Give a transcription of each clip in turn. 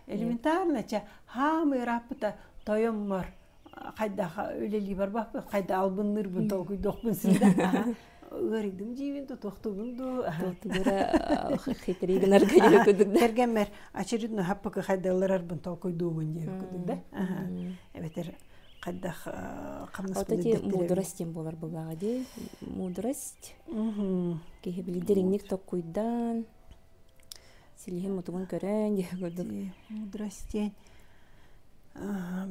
элементарно чэ хаам ырааппыта тойоммор хайдах үлэлии барбаппын хайда албынныырбын толкуйдуохпун син да ыарыйдым диибин тутуохтуубун дуу хитри гынарга кэргэммэр очередной хаппыкы хайдалларарбын толкуйдуубун диэбит кудук да эбэтэр хайдах хамнаспын мудрость буолар буолаҕа ди мудрость киһи били дириҥник толкуйдаан силиһин мутугун көрөн диэ курдук мудрость диэн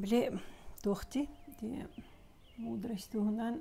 били туох ти мудрость туһунан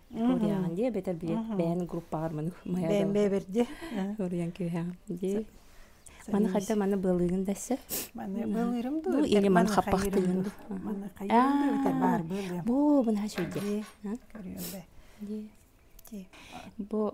Куриаҕын дии эбэтэр бэйэн группаҕар маны бэйэн бэйэбэр дии уруйан күүһэҕин дии маны хайда маны быалыыгын да эссе маны быалыырым дуу или маны хаппахтыыгын дуу маны хайдыын да баар бу бу наһаа үчүгэй дии көрүөм бэ дии бу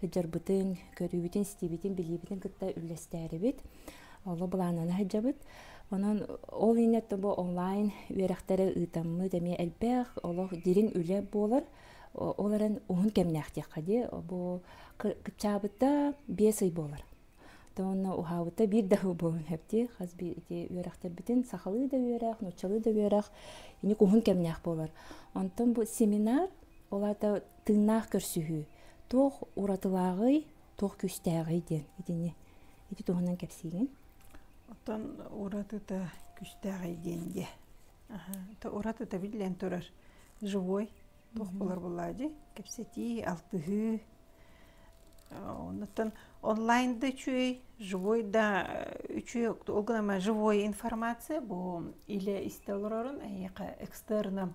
сылдьарбытын, көрүүбүтүн-истиибитин, билиибитин кытта үллэстээрибит. Олу былааннана сылдьабыт. Онон ол иннетте бу онлайн үөрэхтэри ыытаммыт эмиэ элбэх олох дириҥ үлэ буолар. Ол эрэн уһун кэмнээх диэххэ дии. Бу кыччаабыта биэс ый буолар. Онно уһаабыта биир да сыл буолуон сөп дии. Хас бии ити үөрэхтэрбитин сахалыы да үөрэх, нууччалыы да үөрэх эник уһун кэмнээх буолар. Онтон бу семинар Ол аата тыыннаах көрсүһүү. Туох уратылааҕый, туох күүстээҕий диэн итини ити туһунан кэпсиигин. Оттон уратыта күүстээҕий диэн дии. Уратыта биллэн турар живой туох буолар буолаадьый кэпсэтии алтыһыы оннуттан онлайн да үчүгэй живой да үчүгэй ол гынан живой информация бу илэ истэ олорорун эйиэхэ экстерном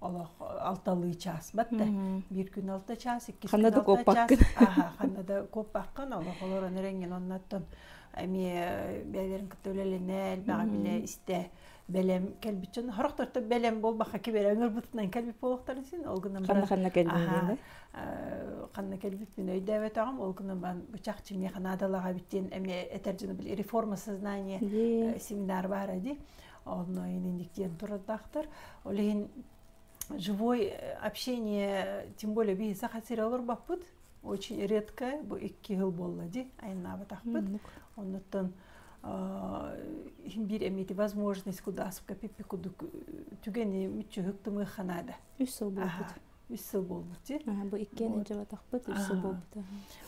олох алталыы чаасбат да биир күн алта чаас иккис күн алта чаас аха ханна да коппаккан олох олорон эрэҥҥин оннаттан эмиэ бэйэлэрин кытта үлэлэнэ элбэҕи билэ истэ бэлэм кэлбит дьон хорохторто бэлэм буолбакка киберэ өҥөрбутунан кэлбит буолуохтарын син ол гынан ханна ханна кэлбит ханна кэлбиппин өйдөөбөтөҕүм ол гынан бан бычах чимиэ ханаадалаҕа биттиэн эмиэ этэр дьону бил реформа сознание семинар баара ди онно инник диэн турардаахтар ол иһин живой общение тем более биһи саха сире олорбоппут очень редко бу икки хыл буолла ди айннаабатахпыт оннуттан химбир эмити возможность кудааскапиппи кудук түгэни мүччүһүк тымы ханаада үс сыл буолбут үс сыл буолбут бу иккиэн илдьибатахпыт үс сыл буолбута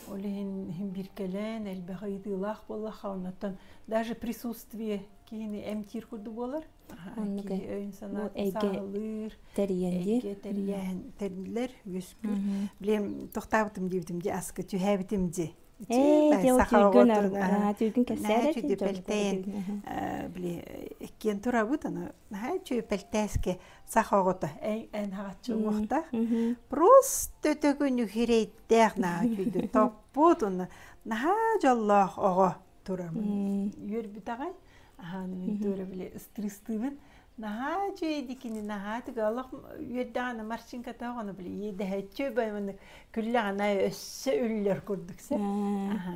ол иһин биркэлээн элбэх ыйытыылаах буоллаха оннуттан даже присутствие киһини эмтиир курдук буолар өйүн санаалыыр тэрийэн тэриллэр үөскүүр билем тохтаабытым диибитим ди аскы түһээбитим ди сахаҕын кэссээри пельтейн били иккиэн турабыт аны наһаа чү пельтээске саха оҕото эн эн хааччы уҥуохтаах просто төкүнү хирэйдээх наһаа үчүгэй топпут уна наһаа дьоллоох оҕо турамын үөрбүтэҕэй аһааны мин туора били ыстыыстыыбын наһаа үчүгэйди кини наһаа тыга олох үөрдэҕэни марчинка тоҕону били иэдэһэччи баймыны күллэҕинэ өссө үллэр курдук сэ аха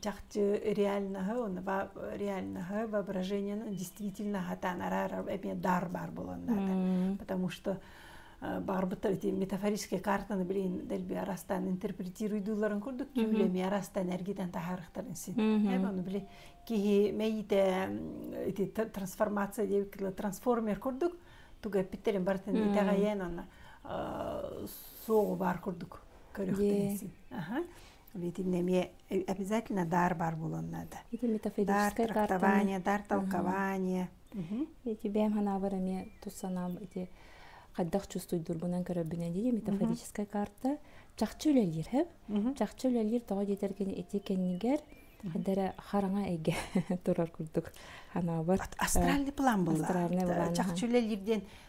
чахчы реальноһы онуба реальноһы воображениены действительно хатаан араара эмиэ дар баар буоланнаата потому что барбыттар эти метафорической картаны билин дэлби арастан интерпретируйдуулларын курдук түүлэ эмиэ арастан эргитэн таһаарыктарын син ону били киһи мэйите эти трансформация диэбиккэ трансформер курдук тугу эппиттерин бартын итэҕэйэн онна суоҕу баар курдук көрүөхтэрин син аха Видимо, эмиэ обязательно дар бар буолан наада. Ити метафизическое дар трактование, дар толкование. Ити бэм ханабар эмиэ тусанам ити хайдах чувствуйдурбунан көрөбүнэн дии метафизическая карта чахчы үлэлиир хэп чахчы үлэлиир тоҕо диэтэр кини ити кэннигэр хайдара хараҥа эйгэ турар курдук ханабар астральный план булла чахчы үлэлиир диэн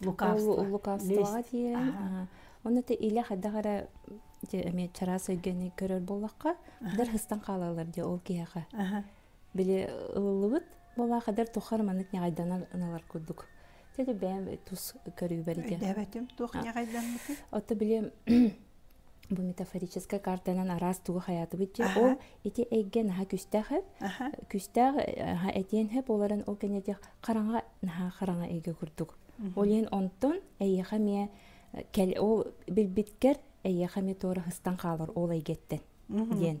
лукавствоҕа диэн ону ты илэ хайдах эрэ эмиэ чараас өйгөни көрөр буоллахха дэр хыстан хаалалар дии ол киһиэхэ били ылыллыбыт буолаха дэр тухар маннык ньаҕайданалар курдук теде бэйэм тус көрүүбэр ити эбэтим туох ньаҕайдаммытый ото били бу метафорическая картанан араас тугу хаятыбыт дии ол ити эйгэ наха күстээх күстээх наха этиэн хэ буоларын ол кэннетих хараҥа наха хараҥа эйгэ курдук ол иһин онтон эйиэхэ миэ кэл ол билбиткер эйиэхэ ми туора хыстан хаалар ол эйгэттен диэн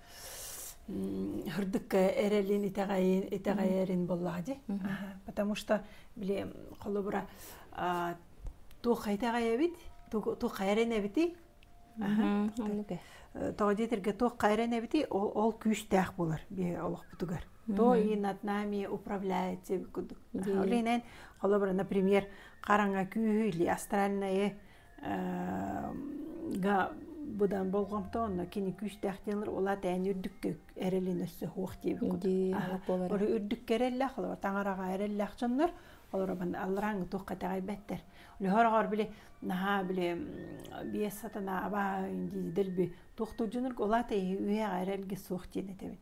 Хырдыкка эрэлин итэҕэйин итэҕэйэрин боллаах ди. Потому что били холобура туох итэҕэйэбит, туох хайрен эбити. Тоҕо диэтэргэ туох хайрен эбити, ол күүстээх болар бие олохпутугар. То и над нами управляется кудук. Олинен, холобура, например, хараҥа күүһү или астральное быдан болҕомто онно кини күүстээх диэн ула тээн үрдүктүк эрэлин өссө хуох диэби олору үрдүккэ эрэллээх олору таҥараҕа эрэллээх дьоннор олору алларааҥы туох кэтэҕэй бэттэр лөһөрөҕөр били наһаа били биэс сатана аба дилби туохтур дьонор улаата иһи үйэҕэ эрэлгэ суох диэн этэбит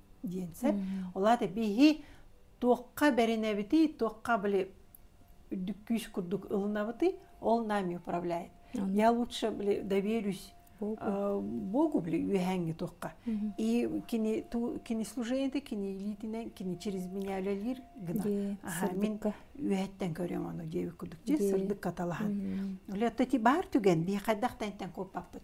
диэн сөп. Олаата биһи туохха бэринэбитий, туохха были үрдүк күүс курдук ылынабытый, ол нами управляет. Я лучше били доверюсь Богу били үөһәңге тухка. И кини кини служение кини илиитинен кини через меня үлэлиир гына. Мен үөһэттен көрөм аны диэбит курдук же сырдык каталаһан. Оле тати бар түген би хайдах тантен коппаппыт.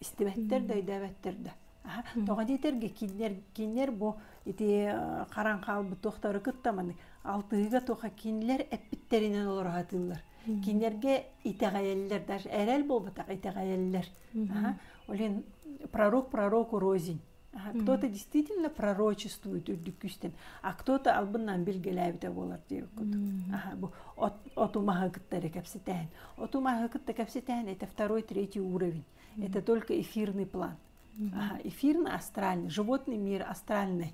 истибэттэр да өйдөөбөттөр да тоҕо диэтэргэ кинилэр кинилэр бу ити харан хаалбыт туохтары кытта маны алтыһыыга туха кинилэр эппиттэринэн олороотууллар кинилэргэ итэҕэйэллэр даже эрэл буолбатах итэҕэйэллэр олен пророк пророку розень а кто-то действительно пророчествует үрдүк күүстэн а кто-то албыннаан билгэлээбитэ буолар диир кутут бу оту маһы кытта эрэ кэпсэтээн оту маһы кытта кэпсэтээн это второй третий уровень это только эфирный план эфирный астральный животный мир астральный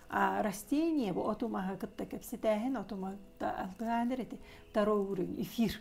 а растение бу оту маһы кытта кэпсэтээһин оту маһы алгаанер эти второй уровень эфир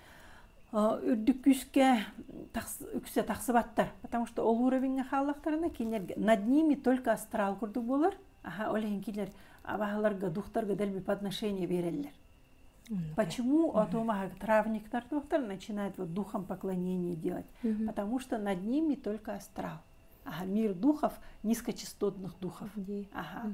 үрдүк күүскэ үксэ тахсыбаттар потому что ол уровеньҥа хааллахтарына кинилэргэ над ними только астрал курдук буолар аха ол иһин кинилэр абаһаларга духтарга дэлби по отношению берэллэр почему а то маха травниктар тухтар начинают вот духом поклонение делать потому что над ними только астрал ага мир духов низкочастотных духов ага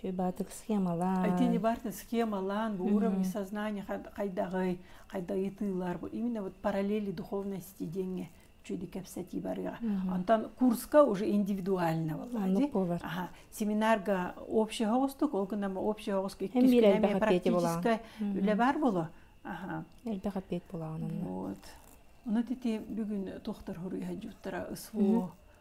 Шебатык схемалаан. Итинибартын схемалаан, бу уровень сознания хайдаҕый, хайдайытыылар, бу именно вот параллели духовности деньги чуди кэпсэти барыга. Онтон курска уже индивидуально болла. Семинарга общий хоҕустук, ол күннэм общий хоҕуску иккискинэм практическай үлэ бар боло. Элбэх аппет була онон. Вот. Оны тити бүгүн тухтар хуруйа жуттара СВО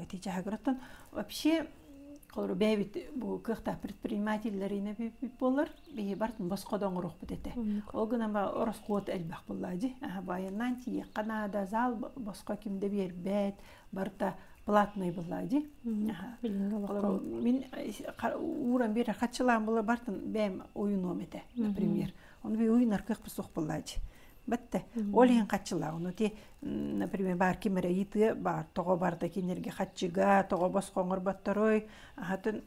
эти дьаһагыраттан вообще холору бэйэбит бу кыахтаах предпринимателлэрине биппит болар бии бар боско да оңорохпут этэ ол гынан ба ороскуот элбэх буллаажи байаннан тиекка наада зал боско кимде биэрбэт барта платный буллаажи мин ууран бир хатчылаан була бартын бэйэм ойунуом этэ например оны би уйунар кыах бусох буллаажи бәттэ ол иһин хаччылаах ону ти например баар ким эрэ ыйытыа баар тоҕо барыта кинилэргэ хаччыга тоҕо босхо оҥорботторой аһатын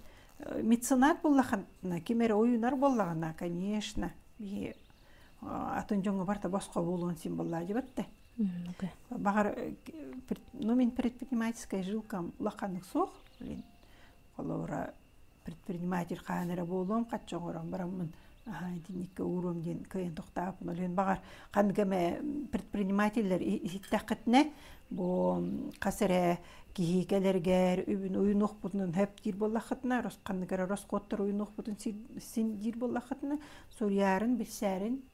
меценат буллахан ким эрэ уйунар боллаҕына конечно биһи атын дьоҥҥо барта босхо буолуон син боллаа дебетте баҕар ну мин предпринимательская жилка улаханнык суох Холобура, предприниматель хаһан эрэ буолуом хачча оҥорон бараммын аһаа итинниккэ ууруом диэн кыайан тохтооппун. Олүөн баҕар ханнык эмэ предпринимателлэр иһиттэххитинэ бу хас эрэ киһи кэлэргэр үбүн уйунуохпутунан сөп диир буоллаххытына ханнык эрэ ороскуоттар уйунуохпутун син диир буоллаххытына суруйарын, билсээрин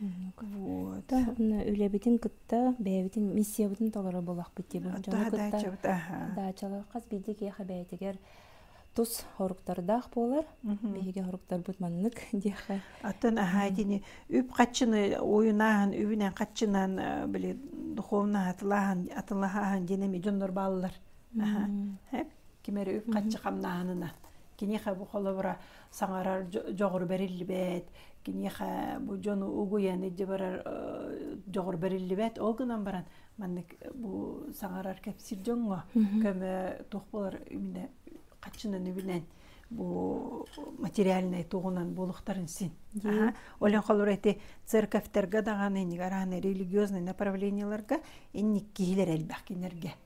үлэбитин кытта бэйэбитин миссиябытын толоро буолахпыт диэбин дьону кытта даачалар хас биирдии киэхэ бэйэтигэр тус хоруктардаах буолар биһиги хоруктарбыт маннык диэхэ оттон аhaa итини үп хаччыны уйунааһын үбүнэн хаччынан э, били духовно атылааһын атылаһааһын диэн эми дьоннор бааллар кимери үп хаччы хамнааһынына киниха бу холобура саҥарар дьоҕур бэриллибэт киниэхэ бу дьону угуйан илдьэ барар дьоҕур бэриллибэт ол гынан баран маннык бу саҥарар кэпсиир дьоҥҥо көмө туох болар именно хаччынан үбүнэн бу материальнай тугунан буолуктарын син олен холур эти церковьтерге даҕаны инигар религиозный направлениеларга инник киһилэр элбэх кинилэргэ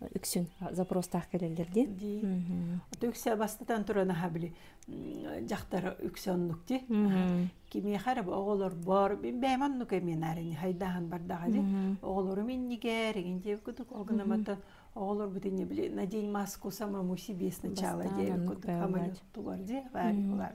үксүн запростаах кэлэллэр дии үксэ бастатан туран аха били дьахтар үксэ оннук ди кимиэхэ эрэ оҕолор боор мин бэйэм оннук эминаарини хайдааһын бардаха ди оҕолорум иннигэр эгин дии кутук ол гынаматтан оҕолорбут инне били надень маску самому себе сначала диэн кутук хаманьук тугар ди баар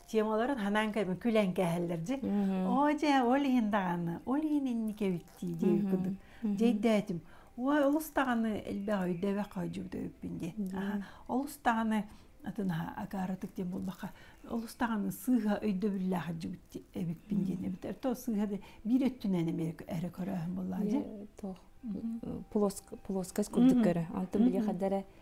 темаларын ханаан кэбин күлэн кээһэллэр дьи оо дьэ ол иһин даҕаны ол иһин инники эбиттии дии кудук дьэйдээтим ой олус даҕаны элбэх өйдөбөх хойдьубут өйүппүн диэн олус даҕаны атын акаарытык диэн буолбакка олус даҕаны сыыһа өйдөбүллээх жигит эбиппин диэн эбит то сыыһа биир өттүнэн эрэ көрөөһүн буллаа дьи туох плоскость курдук көрө антон биле хаддара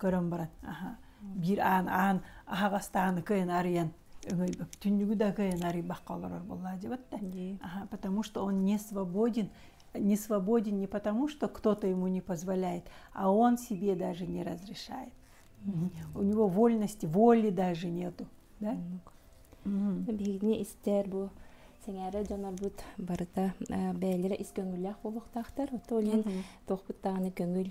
көрөн баран биир аан аан аһаҕастааны кыйын арыйан түннүгү да кыйын арыйбакка олорор буллаадьыбыт да потому что он не свободен не свободен не потому что кто-то ему не позволяет а он себе даже не разрешает у него вольности воли даже нету да биһигини истэр бу сэҥээрэ дьонорбут барыта бэйэлэрэ ис көҥүллээх буолуохтаахтар то лин туохпут даҕаны көҥүл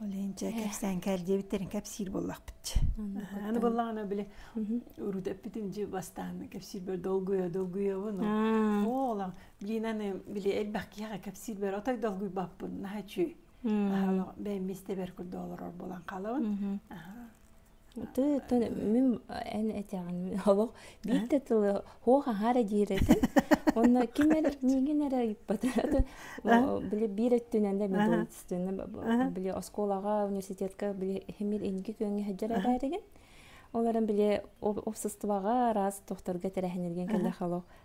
Ол инчэ кэпсээн кэрдиэбиттэрин кэпсиир буоллахпыт. Аны буллаҕына били урутэппитим дьи бастаан кэпсиир бөр долгуйа долгуйабын. Оолан биин аны били элбэх киһиэхэ кэпсиир бэр отой долгуйбаппын наһа үчү. Бээммистэ бэр курдуолар болан халабын. Тыытын мин эн этэҕин олох биирдэ тылы суох аһаары диирэтин уонна ким эрэ миигин эрэ ыйыппата били биир өттүнэн да медуницина били оскуолаҕа университетка били иһимир инги күөҥҥэ сылдьар эрээригин ол эрэн били уопсастыбаҕа араас тохторго тэрээһинирген кэллэх олох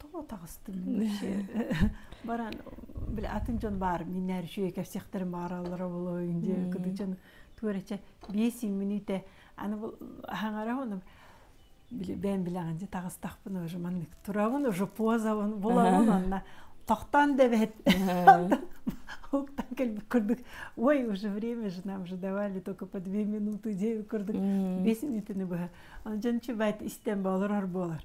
тоҕо таҕыстыҥ баран били атын дьон баар миннэр үшүө кэпсэхтэрин баараллара болойун дии кыдычан туорача биэс мүнүүтэ аны бу хаҥара оны били бээн билэҕин дьэ таҕыстахпын уже маннык турабын уже позабын булабын онно тохтон дэбэт уктан кэлбит курдук ой уже время же нам же давали только по две минуты дей курдук бес минутаны быһа он жан чубайт истен болар болар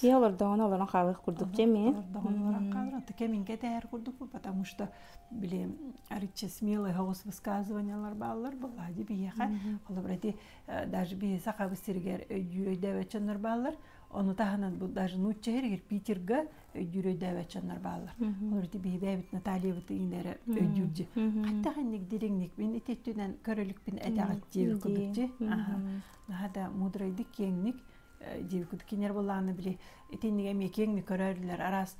Киһи олордоҕуна олорон хаалыах курдук дьэми. Олордоҕуна олорон хаалар. Таке минге тэһэр курдук потому что били аричче смелые хоҕус высказываниялар бааллар была ди биһиэхэ олобро ити даже биһи сахабыз сиригэр өйдүүрөйдөөбөччөннөр бааллар ону таһынан бу даже нуучча сиригэр питерга өйдүүрөйдөөбөччөннөр бааллар олор ити биһи бэйэбит натальябыт ииннэри өйдүүрдү хаттахинник дириҥникпин ититтүнэн көрөлүкпүн этэҕит диэбит курдукчи наһаа да мудрайдык киэҥник диэбиккит кинилэр буоллаҕына били итиннигэ эмиэ киэҥник көрөллөр араас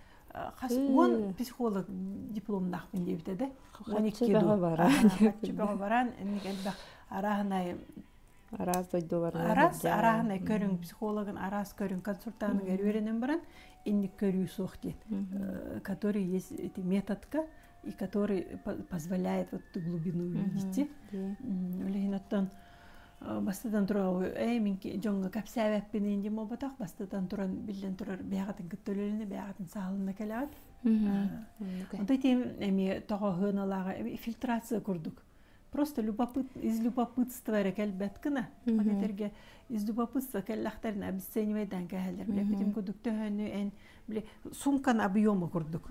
хас уон психолог дипломнаахпын диэбитэ да уон икки дуу хаччы бөҕө баран инник элбэх арааһынай араас дойдуларынан араас арааһынай көрүҥ психологын араас көрүҥ консультантыгар үөрэнэн баран инник көрүү суох диэн который есть эти методка и который позволяет вот эту глубину увидеть. Үлэһин оттон бастатан тураабы ээ мин дьоҥҥо кэпсээбэппин инди буолбатах бастатан туран биллэн турар бэйэҕитин кытта үлэлэни бэйэҕитин саалынна кэлэҕит онтой тем эми тоҕоһыаналааҕа фильтрация курдук просто любопыт из любопытства эрэ кэлбэт гына ол этэргэ из любопытства кэллэхтэрин обесценивайдан кэһэллэр бile битим курдук төһөнү эн бile сумкан объема курдук